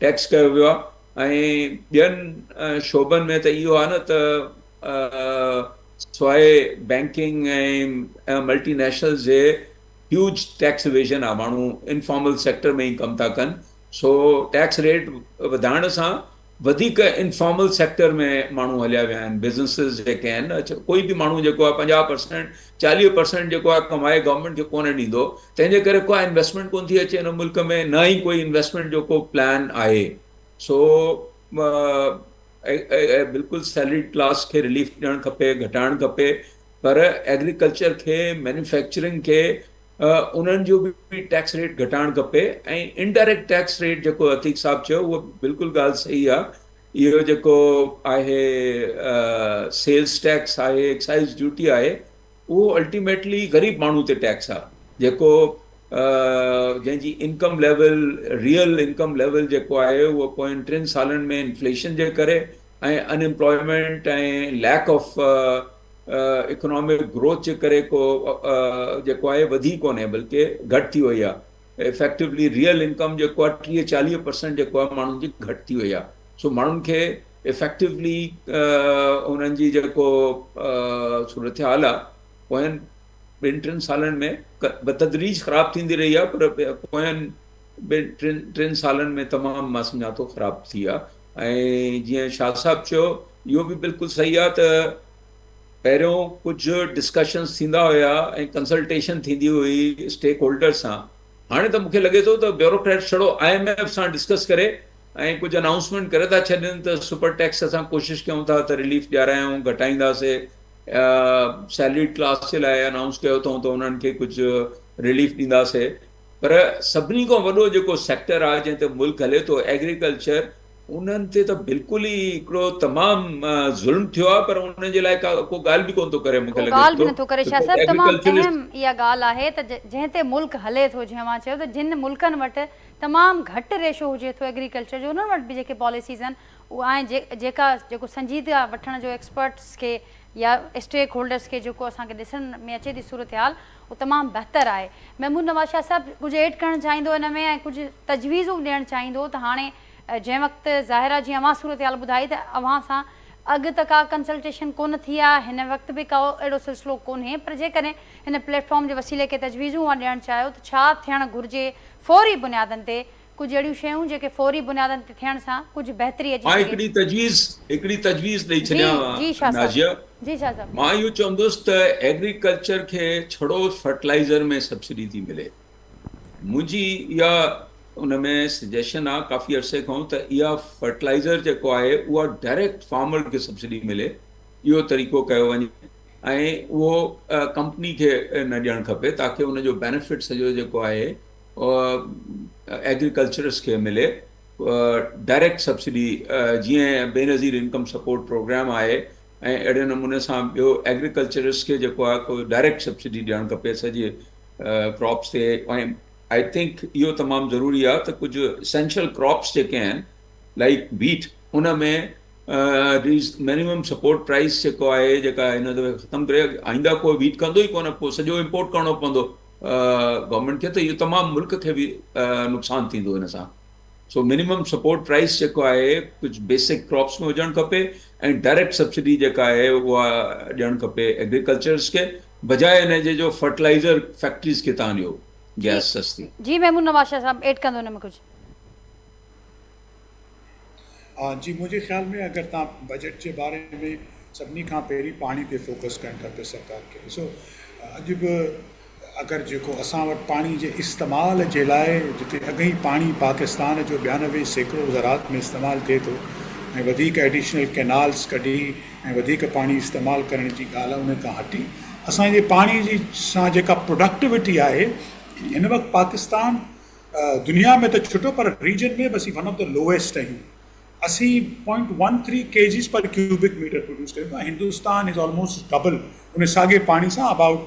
ٽيڪس ڪيو ويو آهي ۽ ٻين شعبن ۾ ته اهو آهي نه ته سواء بئنڪنگ ۽ ملٽي نيشنلز جي هيوج ٽيڪس ايويزن آهي ماڻهو انفارمل سيڪٽر ۾ ئي ڪم ٿا ڪن سو ٽيڪس ريٽ وڌائڻ سان وڌيڪ انفارمل سيڪٽر ۾ ماڻهو هليا ويا آهن بزنسز جيڪي آهن نه ڪوئي به ماڻهو جيڪو آهي پنجاهه پرسينٽ چاليهه پرسينٽ جيڪو آهي ڪمائي گورنمينٽ کي ڪونه ڏيندو تنهن جي ڪري ڪا انويسٽمينٽ ڪونه ٿي اچي هن ملڪ ۾ نه ئي ڪوئي انويسٽمينٽ جو ڪو پلان آهي سو بلڪل سيلريڊ ڪلاس کي رليف ڏيڻ کپي گهٽائڻ کپي پر ايگريڪلچر کي مينوفيڪچرنگ کي انهن جو به ٽيڪس ريٽ گهٽائڻ کپي ۽ انڊائريڪٽ ٽيڪس ريٽ جيڪو عتيق صاحب چيو اهو بلڪل ڳالهه صحيح آهي اهو جيڪو آهي سيلز ٽيڪس آهي ايڪسائيز ڊيوٽي آهي اهو الٽيميٽلي غريب ماڻهو تي ٽيڪس آهي جيڪو جنهن جي income level real income level جيڪو آهي اهو پوئين ٽن سالن ۾ انفليشن جي ڪري ۽ unemployment ۽ lack of economic growth جي ڪري ڪو جيڪو آهي وڌي ڪونهي بلڪه گهٽ ٿي وئي آهي افيڪٽويلي ريئل انڪم جيڪو آهي ٽيهه چاليهه پرسنٽ جيڪو آهي ماڻهن جي گهٽ ٿي وئي آهي سو ماڻهن کي افيڪٽويلي انهن جي جيڪو صورتحال آهي پوين ٻن ٽن سالن ۾ بتدريج خراب ٿيندي رهي آهي پر پوين ٻن ٽن ٽن سالن ۾ تمام مان سمجهان ٿو خراب ٿي آهي ۽ جيئن شاهه صاحب چيو اهو به بلڪل صحيح آهي ته پهريون ڪجهه ڊسڪشنز ٿيندا هيا ۽ ڪنسلٽيشن ٿيندي هئي اسٽيڪ هولڊرز سان هاڻي ته مون کي لڳي ٿو ته بيوروڪريٽس ڇڙو آء ايم ايف سان ڊسڪس ڪري ۽ ڪجهه انائونسمينٽ ڪري ٿا ڇڏين ته سپر ٽيڪس اسان ڪوشش ڪيون ٿا ته رليف ڏيارايون گهٽائينداسي سيلريڊ ڪلاس جي لاء انائونس ڪيو اٿئون ته انهن کي ڪجهه رليف ڏينداسي پر سڀني کان وڏو جيڪو سيڪٽر آهي جنهن تي ملڪ هلي ٿو ايگريڪلچر انهن تي ته بلڪل ئي هڪڙو تمام ظلم ٿيو آهي پر انهن جي لاء ڪا ڪو ڳالهه به ڪونه ٿو ڪري مون کي لڳي ٿو ته ڪو ڳالهه به نٿو ڪري شاهه صاحب تمام اهم اها ڳالهه آهي ته جنهن تي ملڪ هلي ٿو جيئن اوهان چيو ته جن ملڪن وٽ تمام گهٽ ريشو هجي ٿو ايگريڪلچر جو انهن وٽ به جيڪي پاليسيز آهن اهي جيڪا جيڪو سنجيدگي وٺڻ جو ايڪسپرٽس کي يا اسٽيڪ هولڊرس کي جيڪو اسان کي ڏسڻ ۾ اچي ٿي صورتحال اهو تمام بهتر آهي محمود نواز شاهه صاحب ڪجهه ايڊ ڪرڻ چاهيندو ان ۾ ۽ ڪجهه تجويزون ڏيڻ چاهيندو ته هاڻي جنهن وقت ظاهرا جي اوهان صورتحال ٻڌائي ته اوهان سان اڳ ته ڪا ڪنسلٽيشن ڪونه ٿي آ هن وقت به ڪو اهڙو سلسلو ڪونهي پر جيڪڏهن هن پليٽ فارم جي وسيلي ڪي تجويزون اوهان ڏيڻ چاهيو ته ڇا ٿيڻ گهرجي فوري بنيادن تي ڪجهه اهڙيون شيون جيڪي فوري بنيادن تي ٿيڻ سان ڪجهه بهتري اچي سگهي. مان هڪڙي تجويز هڪڙي تجويز ڏئي جي ڇڏيان جي شاهه صاحب نازيه جي شاهه صاحب. مان اهو چوندس ته ايگريڪلچر کي ڇڙو فرٽلائيزر ۾ سبسڊي ٿي ملي. منهنجي اها ان ۾ سجيشن آ ڪافي عرصي کان ته اها فرٽلائزر جيڪو آهي اها ڊائريڪٽ فارمر کي سبسڊي ملي اهو طريقو ڪيو وڃي ۽ اهو ڪمپني کي نه ڏيڻ کپي تاڪي ان جو بينيفٽ سڄو جيڪو آهي ايگريڪلچرس کي ملي ڊائريڪٽ سبسڊي جيئن بينظير انڪم سپورٽ پروگرام آهي ۽ اهڙي نموني سان ٻيو ايگريڪلچرسٽ کي جيڪو آهي ڪو ڊائريڪٽ سبسڊي ڏيڻ کپي سڄي ڪراپس تي ۽ آئي ٿنڪ اهو تمام ضروري آهي ته ڪجهه اسينشل ڪراپس جيڪي آهن لائڪ ويٽ ان ۾ مينيمم سپورٽ پرائس جيڪو آهي جيڪا هن دفعي ختم ڪري آئنده ڪو ويٽ ڪندو ئي ڪونه پوء سڄو امپورٽ ڪرڻو پوندو گورنمينٽ کي ته اهو تمام ملڪ کي به نقصان ٿيندو ان سان سو منيمم سپورٽ پرائس جيڪو آهي ڪجهه بيسڪ ڪراپس ۾ هجڻ کپي ۽ ڊائريڪٽ سبسڊي جيڪا آهي اها ڏيڻ کپي ايگريڪلچرز کي بجاء ان جي جو فرٽلائيزر فيڪٽريز کي تان ڏيو جي گيس سستي. جي محمود نواز شاهه صاحب ايڊ ڪندو ان ۾ ڪجهه. ها جي منهنجي خيال ۾ اگر تان بجيٽ جي باري ۾ سڀني کان پهرين پاڻي تي فوڪس ڪرڻ کپي سرڪار کي ڏسو اڄ به ته اگر جيڪو اسان وٽ پاڻي جي استعمال جي لاء جتي اڳ ئي پاڻي پاڪستان جو ٻيانوي سيڪڙو زراعت ۾ استعمال ٿئي ٿو ۽ وڌيڪ ايڊيشنل ڪينالز ڪڍي ۽ وڌيڪ پاڻي استعمال ڪرڻ جي ڳالهه ان کان هٽي اسان جي پاڻي جي سان جيڪا پروڊڪٽوٽي آهي هن وقت پاڪستان دنيا ۾ ته ڇٽو پر ريجن ۾ به اسين ون آف د لوئسٽ آهيون اسين point one three K Gs per cubic metre produce ڪريون ٿا هندوستان از آلموسٽ ڊبل ان ساڳي پاڻي سان اباؤٽ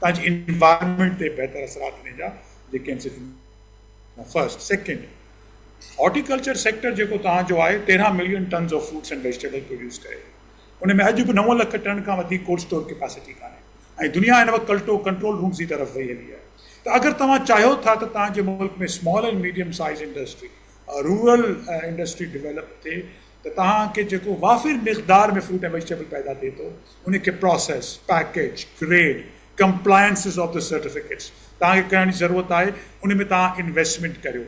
تان جي انوائرمينٽ تي بهتر اثرات انهي جا جيڪي آهن سي ٿيندا. فرسٽ سيڪنڊ هارٽيڪلچر سيڪٽر جيڪو تان جو آهي تيرهن million tons of fruits and vegetable produce ڪري ٿو ان ۾ اڄ به نو لک ٽن کان وڌيڪ ڪولڊ اسٽور ڪيپاسٽي ڪانهي ۽ دنيا هن وقت ڪلٽو ڪنٽرول رومز جي طرف وئي هلي آهي ته اگر توهان چاهيو ٿا ته تان جي ملڪ ۾ small and medium size industry rural industry develop ٿي ته تان کي جيڪو وافر مقدار ۾ فروٽ اينڊ ويجيٽيبل پيدا ٿئي ٿو ان کي process, package, grade, compliances of the certificates توهان کي ڪرڻ جي ضرورت آهي ان ۾ توهان انويسٽمينٽ ڪريو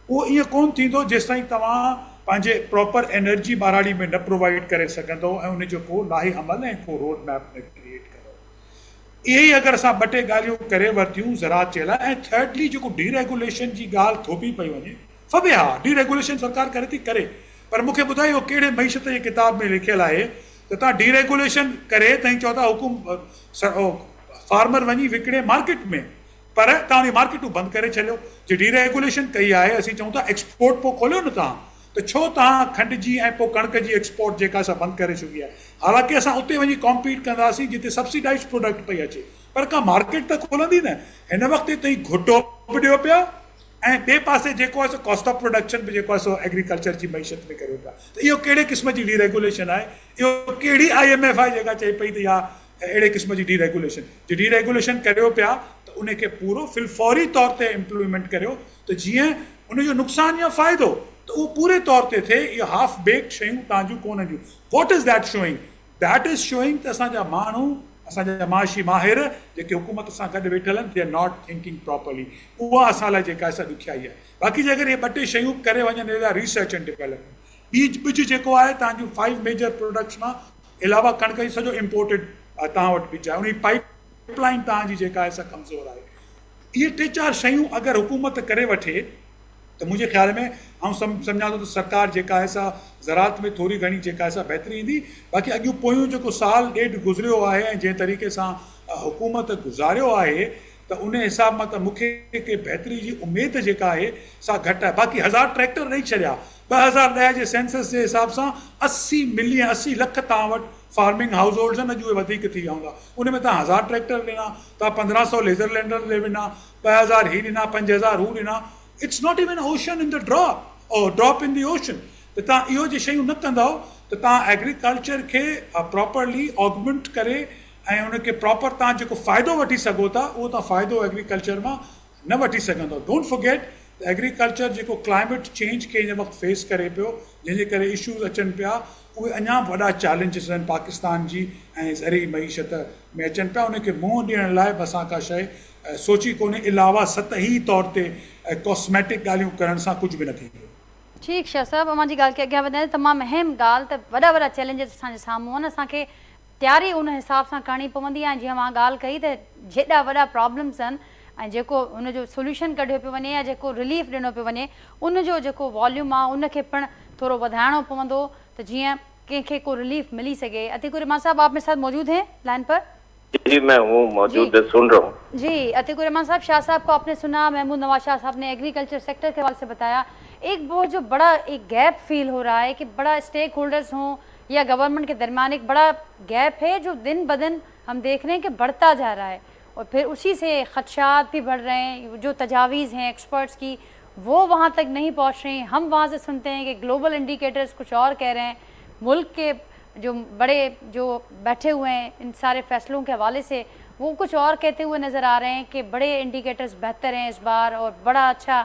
اهو ائين ڪونه ٿيندو جيستائين توهان پنهنجي پراپر انرجي ٻهراڙي ۾ نه پرووائيڊ ڪري سگهندو ۽ ان جو ڪو لاهي عمل ۽ ڪو روڊ ميپ نه ڪريئيٽ ڪندو اهي ئي اگر اسان ٻه ٽي ڳالهيون ڪري ورتيون زراعت جي لاء ۽ ٿرڊلي جيڪو ڊي ريگوليشن جي ڳالهه ٿوپي پئي وڃي فبه ها ڊي ريگوليشن سرڪار ڪري ٿي ڪري پر مون کي ٻڌايو اهو ڪهڙي معيشت جي ڪتاب ۾ لکيل آهي ته تهان ڊي ريگوليشن ڪري تهين چئو ٿا حڪم فارمر وڃي وڪڻي مارڪيٽ ۾ پر تهان اهي مارڪيٽون بند ڪري ڇڏيو جي ڊي ريگوليشن ڪئي آهي اسين چئون ٿا ايڪسپورٽ پو کوليو نه تهان ته ڇو تهان کنڊ جي ۽ پو ڪڻڪ جي ايڪسپورٽ جيڪا سا بند ڪري ڇڏي آهي حالانڪه اسان اتي وڃي ڪامپيٽ ڪنداسين جتي سبسڊائيزڊ پروڊڪٽ پئي اچي پر ڪا مارڪيٽ ته کولندي نه هن وقت تي تهين گهٽو به ڏيو پيا ۽ ٻي پاسي جيڪو آهي سو ڪاسٽ آف پروڊڪشن به جيڪو آهي سو ايگريڪلچر جي معيشت ۾ ڪريو پيا ته اهو ڪهڙي قسم جي ڊي ريگوليشن آهي، اهو ڪهڙي آء ايم ايف آهي جيڪا چئي پئي ته اها اهڙي قسم جي ڊي ريگوليشن، جي ڊي ريگوليشن ڪريو پيا ته ان کي پورو في الفوري طور تي امپليمينٽ ڪريو ته جيئن ان جو نقصان يا فائدو ته اهو پوري طور تي ٿئي، اهي هاف بيڪڊ شيون توهان جون ڪونه هونديون، what is that showing? That is showing ته اسان جا ماڻهو، اسان جا معاشي ماهر جيڪي حڪومت سان گڏ ويٺل آهن، they are not thinking properly, اها اسان لاء جيڪا آهي سا ڏکيائي آهي. باقي جيڪر اهي ٻه ٽي شيون به ڪري وڃن اهڙا ريسرچ اينڊ ڊيولپمينٽ ٻيج ٻج جيڪو آهي تهان جون فائيو ميجر پروڊڪٽس مان علاوه ڪڻڪ جي سڄو امپورٽيڊ تهان وٽ ٻج آهي ان جي پائيپ لائين تهان جي جيڪا آهي سا ڪمزور آهي اهي ٽي چار شيون اگر حڪومت ڪري وٺي ته منهنجي خيال ۾ آئون سمجهان ٿو ته سرڪار جيڪا آهي سا زراعت ۾ ٿوري گهڻي جيڪا آهي سا بهتري ايندي باقي اڄ پويون جيڪو سال ڏيڍ گذريو آهي ۽ جنهن طريقي سان حڪومت گذاريو آهي ته انهي حساب مان ته مون کي ڪي بهتري جي اميد جيڪا آهي سا گهٽ آهي باقي هزار ٽريڪٽر ڏئي ڇڏيا ٻه هزار ڏهه جي سينسس جي حساب سان اسي ملين اسي لک توهان وٽ فارمنگ هائوس هولڊز آهن اڄ اهي وڌيڪ ٿي ويا هوندا انهي ۾ توهان هزار ٽريڪٽر ڏنا توهان پندرهن سئو ليزر لينڊر ڏئي ونا ٻه هزار هي ڏنا پنج هزار هو ڏنا it's not even ocean in the drop or drop in the ocean ته توهان اهو جي شيون نه ڪندؤ ته توهان ايگريڪلچر کي پراپرلي آگمنٽ ڪري ۽ ان کي پراپر توهان جيڪو فائدو وٺي سگهو ٿا اهو توهان فائدو ايگريڪلچر مان نه وٺي سگهندو ڊونٽ فورگيٽ ته ايگريڪلچر جيڪو ڪلائميٽ چينج کي هن وقت فيس ڪري پيو جنهن جي ڪري اشوز اچن پيا اهي اڃا به وڏا چئلينجز آهن پاڪستان جي ۽ زرعي معيشت ۾ اچن پيا ان کي منهن ڏيڻ لاء به اسان ڪا شئي سوچي ڪونهي علاوه سطحي طور تي ڪاسميٽڪ ڳالهيون ڪرڻ سان ڪجهه به نه ٿيندو. ٺيڪ شاهه صاحب اوهان جي ڳالهه کي اڳيان وڌائيندي تمام اهم ڳالهه ته وڏا وڏا چئلينجز اسان جي سامهون آهن اسان کي تياري ان حساب سان ڪرڻي پوندي ۽ جيئن اوهان ڳالهه ڪئي ته جيڏا وڏا پرابلمز آهن ۽ جيڪو ان جو سوليوشن ڪڍيو پيو وڃي يا جيڪو رليف ڏنو پيو وڃي ان جو جيڪو واليوم آهي ان کي پڻ ٿورو وڌائڻو پوندو ته جيئن ڪنهن کي ڪو رليف ملي سگهي عتيق الرحمان صاحب آپ ميري ساٿ موجود هين لائن پر. جي مين هون موجود هون سن رها هون. جي عتيق الرحمان صاحب شاهه صاحب ڪو آپني سنا محمود نواز شاهه صاحب ني ايگريڪلچر سيڪٽر ڪي حوالي سي بتايا ايڪ بهت جو بڙا ايڪ گيپ فيل هو رها هي ڪي بڙا اسٽيڪ هولڊرز هون يا گورنمنٽ ڪي درميان ايڪ بڙا گيپ هي جو دن بدن هم ديک رهي هين ڪي بڙتا جا رها هي اور پھر اسي سي خدشات بھي بڙ رهي هين جو تجاويز هين ايڪسپرٽس ڪي وو وهان تڪ نهي پهچ رهي هين هم وهان سي سنتي هين ڪي گلوبل انڊيڪيٽرس ڪچھ اور ڪه رهي هين ملڪ ڪي جو بڙي جو بيٺي هوئي هين ان ساري فيصلون ڪي حوالي سي وو ڪچھ اور ڪهتي هوئي نظر آ رهي هين ڪي بڙي انڊيڪيٽرس بهتر هين اس بار اور بڙا اچھا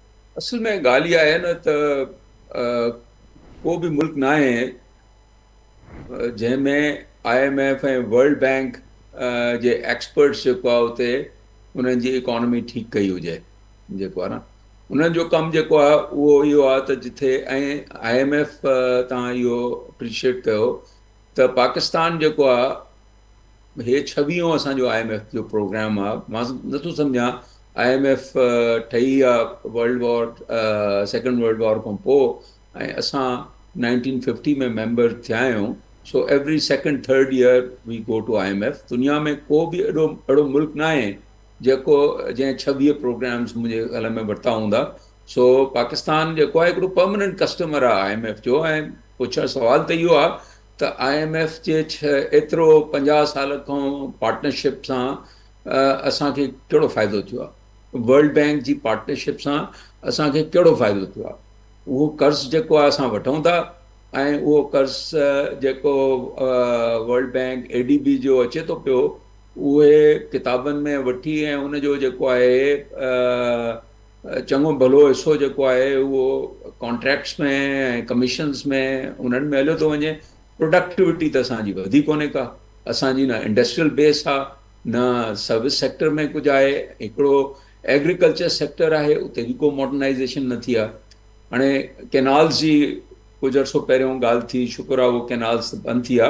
اصل ۾ ڳالهه اها آهي نه ته ڪو به ملڪ ناهي جنهن ۾ I M F ۽ World Bank جي ايڪسپرٽس جيڪو آهي اتي انهن جي اڪانومي ٺيڪ ڪئي هجي جيڪو آهي نه انهن جو ڪم جيڪو آهي اهو اهو آهي ته جتي ۽ آء ايم ايف تان اهو اپريشيٽ ڪيو ته پاڪستان جيڪو آهي هي ڇويهون اسان جو آء ايم ايف جو پروگرام آ مان نٿو سمجهان آء ايم ايف ٺهي آ World War Second World War کان پوء ۽ اسان نائنٽين ففٽي ۾ ميمبر ٿيا آهيون so every second third year we go to I M F دنيا ۾ ڪو به اهڙو اهڙو ملڪ نه آهي جيڪو جنهن ڇويهه پروگرامز منهنجي خيال ۾ ورتا هوندا سو پاڪستان جيڪو آهي هڪڙو پرماننٽ ڪسٽمر آهي آء ايم ايف جو ۽ پڇڻ سوال ته اهو آهي ته آء ايم ايف جي ايترو پنجاهه سال کان پارٽنرشپ سان اسان کي ڪهڙو فائدو ٿيو آهي ورلڊ بينڪ جي پارٽنرشپ سان اسان کي ڪهڙو فائدو ٿيو آهي اهو قرض جيڪو آهي اسان وٺون ٿا ۽ اهو قرض جيڪو World Bank A D B جو اچي ٿو پيو اهي ڪتابن ۾ وٺي ۽ ان جو جيڪو آهي چڱو ڀلو حصو جيڪو آهي اهو ڪانٽريڪٽس ۾ ۽ ڪميشنز ۾ انهن ۾ هليو ٿو وڃي، پروڊڪٽوٽي ته اسان جي وڌي ڪونهي ڪا، اسان جي نه انڊسٽريل بيس آ، نه سروس سيڪٽر ۾ ڪجهه آهي، هڪڙو ايگريڪلچر سيڪٽر آهي اتي به ڪو ماڊرنائيزيشن نه ٿي آ، هاڻي ڪينالز جي ڪجهه عرصو پهريون ڳالهه ٿي شڪر آ اهو ڪينالز ته بند ٿي آ،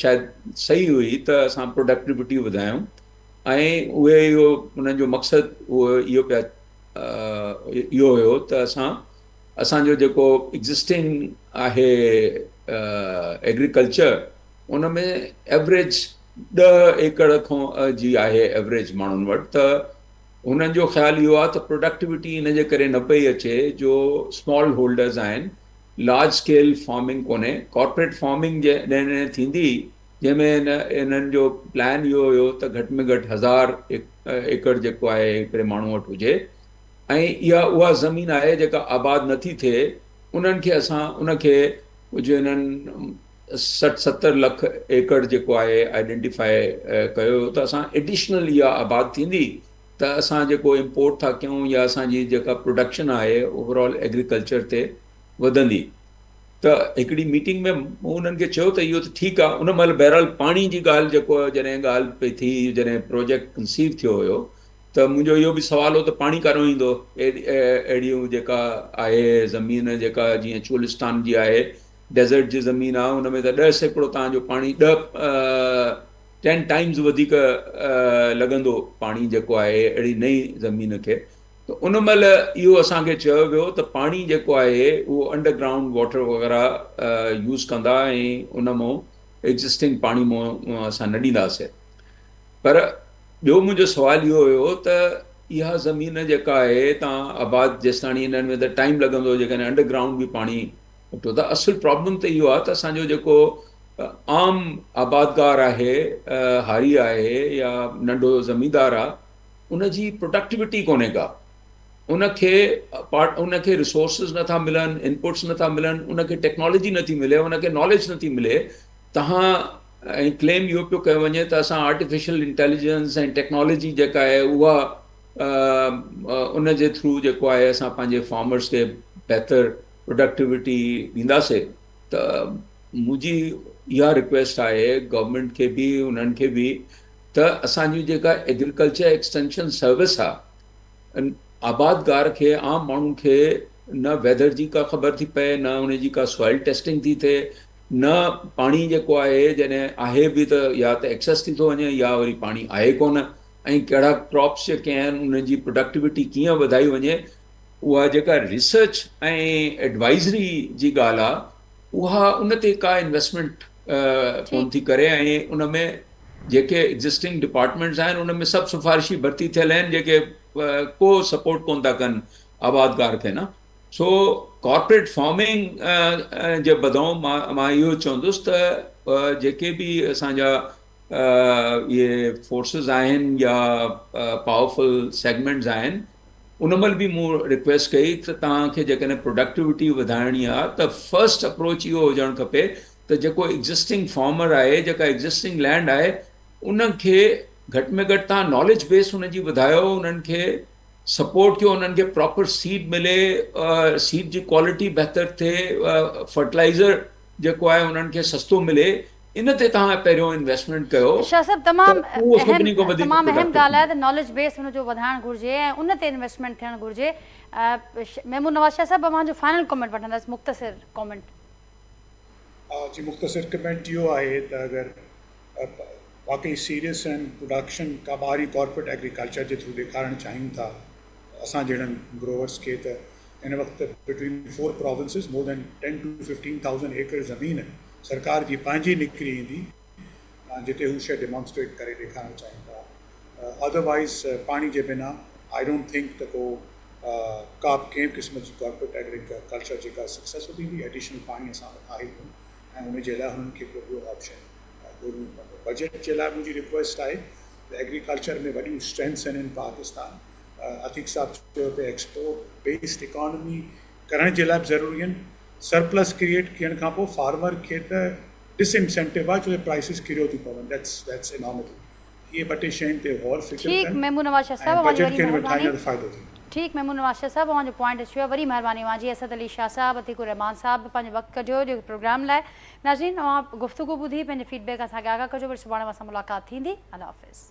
شايد صحيح هئي ته اسان پروڊڪٽيوٽي وڌايون ۽ اهي اهو انهن جو مقصد اهو اهو پيا اهو هيو ته اسان اسان جو جيڪو ايگزسٽنگ آهي ايگريڪلچر ان ۾ ايوریج ڏهه ايڪڙ کان جي آهي ايوریج ماڻهن وٽ ته هنن جو خيال اهو آهي ته پروڊڪٽيوٽي ان جي ڪري نه پئي اچي جو اسمال هولڊرز آهن لارج اسڪيل فارمنگ ڪونهي ڪارپوريٽ فارمنگ جڏهن ٿيندي جنهن ۾ انهن جو پلان اهو هيو ته گهٽ ۾ گهٽ هزار ايڪڙ جيڪو آهي هڪڙي ماڻهو وٽ هجي ۽ اها اها زمين آهي جيڪا آباد نٿي ٿئي انهن کي اسان ان کي جو انهن سٺ ستر لک ايڪڙ جيڪو آهي آئيڊينٽيفائي ڪيو هيو ته اسان ايڊيشنل اها آباد ٿيندي ته اسان جيڪو امپورٽ ٿا ڪيون يا اسان جي جيڪا پروڊڪشن آهي اوور آل ايگريڪلچر تي وڌندي ته هڪڙي ميٽنگ ۾ مون انهن کي چيو ته اهو ته ٺيڪ آهي ان مهل بهرحال پاڻي جي ڳالهه جيڪو جڏهن ڳالهه پئي ٿي جڏهن پروجيڪٽ ڪنسيو ٿيو هيو ته منهنجو اهو به سوال هو ته پاڻي ڪاڏهون ايندو اهڙيون جيڪا آهي زمين جيڪا جيئن چولستان جي آهي ڊيزرٽ جي زمين آهي ان ۾ ته ڏهه سيڪڙو توهان جو پاڻي ڏهه ٽين ٽائيمز وڌيڪ لڳندو پاڻي جيڪو آهي اهڙي نئين زمين کي ته ان مهل اهو اسان کي چيو ويو ته پاڻي جيڪو آهي اهو انڊر گرائونڊ واٽر وغيره يوز ڪندا ۽ ان مون ايگزسٽنگ پاڻي مون اسان نه ڏينداسي پر ٻيو منهنجو سوال اهو هيو ته اها زمين جيڪا آهي تان آباد جيستاڻي انهن ۾ ته ٽائيم لڳندو جيڪڏهن انڊر گرائونڊ به پاڻي ڏٺو ته اصل پرابلم ته اهو آهي ته اسان جو جيڪو عام آبادگار آهي هاري آهي يا ننڍو زميندار آهي ان جي پروڊڪٽيوٽي ڪونهي ڪا ان کي ان کي رسورسز نٿا ملن انپوٽس نٿا ملن ان کي ٽيڪنالاجي نٿي ملي ان کي ناليج نٿي ملي تهان ۽ ڪليم اهو پيو ڪيو وڃي ته اسان آرٽيفيشل انٽيليجنس ۽ ٽيڪنالاجي جيڪا آهي اها ان جي ٿرو جيڪو آهي اسان پنهنجي فارمرس کي بهتر پروڊڪٽيوٽي ڏينداسي ته منهنجي اها رڪويسٽ آهي گورنمينٽ کي به انهن کي به ته اسان جي جيڪا ايگريڪلچر ايڪسٽينشن سروس آ آبادگار کي عام ماڻهو کي نه ويدر جي ڪا خبر ٿي پئي نه ان جي ڪا سوائل ٽيسٽنگ ٿي ٿئي نه پاڻي جيڪو آهي جڏهن آهي به ته يا ته ايڪسيس ٿي ٿو وڃي يا وري پاڻي آهي ڪونه ۽ ڪهڙا ڪراپس جيڪي آهن انهن جي پروڊڪٽيوٽي ڪيئن وڌائي وڃي اها جيڪا ريسرچ ۽ ايڊوائزري جي ڳالهه آ اها ان تي ڪا انويسٽمينٽ ڪون ٿي ڪري ۽ ان ۾ جيڪي ايگزسٽنگ ڊپارٽمينٽس آهن ان ۾ سڀ سفارشي ڀرتي ٿيل آهن جيڪي ڪو سپورٽ ڪون ٿا ڪن آبادگار کي نه سو ڪارپوريٽ فارمنگ جي بدئون مان اهو چوندس ته جيڪي به اسان جا اهي فورسز آهن يا پاورفل سيگمينٽس آهن ان مھل به مون رڪويسٽ ڪئي ته توھان کي جيڪڏھن پروڊڪٽوٽي وڌائڻي آ ته فرسٽ اپروچ اھو ھجڻ کپي ته جيڪو ايگزسٽنگ فارمر آھي جيڪا ايگزسٽنگ لينڊ آھي ان کي گھٽ ۾ گھٽ توھان ناليج بيس ان جي وڌايو انھن کي سپورٽ ڪيو انھن کي پراپر سيڊ ملي سيڊ جي ڪوالٽي بھتر ٿئي فرٽلائزر جيڪو آهي انهن کي سستو ملي ان تي توهان پهريون انويسٽمينٽ ڪيو شاهه صاحب تمام اهم تمام اهم ڳالهه آهي ته ناليج بيس ان جو وڌائڻ گهرجي ۽ ان تي انويسٽمينٽ ٿيڻ گهرجي محمود نواز شاهه صاحب اوهان جو فائنل ڪمينٽ وٺندس مختصر ڪمينٽ. جي مختصر ڪمينٽ اهو آهي ته اگر واقعي سيريس اينڊ پروڊڪشن ڪا ٻاهرين ڪارپوريٽ ايگريڪلچر جي ٿرو ڏيکارڻ چاهيون ٿا اسان جهڙن گروورس کي ته هن وقت between four provinces more than ten to fifteen thousand acre زمين سرڪار جي پنهنجي نڪري ايندي جتي هو شيء ڊيمانسٽريٽ ڪري ڏيکارڻ چاهين ٿا اڌر وائيز پاڻي جي بنا آئي ڊونٽ ٿنڪ ته ڪو ڪا به ڪنهن به قسم جي ڪارپوريٽ ايگريڪ ڪلچر جيڪا سڪسيسفل ٿيندي ايڊيشنل پاڻي اسان وٽ آهي ڪون ۽ ان جي لاء هنن کي ڪو ٻيو آپشن ڳولڻو پوندو بجيٽ جي لاء منهنجي رڪويسٽ آهي ته ايگريڪلچر ۾ وڏيون اسٽرينٿس آهن ان پاڪستان عتيق صاحب چيو ته ايڪسپورٽ بيسڊ اڪانومي ڪرڻ جي لاء به ضروري آهن سرپلس ڪريئيٽ ڪيڻ کان پوء فارمر کي ته ڊس انسينٽو آهي ڇو جو پرائسز ڪريو ٿيون پون ڏيٽس ڏيٽس اناميڪل اهي ٻه ٽي شين تي غور فڪر ڪن ٺيڪ ميمون نواز شاهه صاحب ۽ اوهان جي بجيٽ وڏي ڪين مهرباني وٺائين ته فائدو ٿيندو. ٺيڪ ميمون نواز شاهه صاحب اوهان جو پوائنٽ اچي ويو آهي وڏي مهرباني اوهان جي اسد علي شاهه صاحب عتيق الرحمان صاحب به پنهنجو وقت ڪڍيو جو پروگرام لاء ناظرين اوهان گفتگو ٻڌي پنهنجي فيڊ بيڪ اسان کي آگاهه ڪجو وري سڀاڻي اوهان سان ملاقات ٿيندي الله حافظ.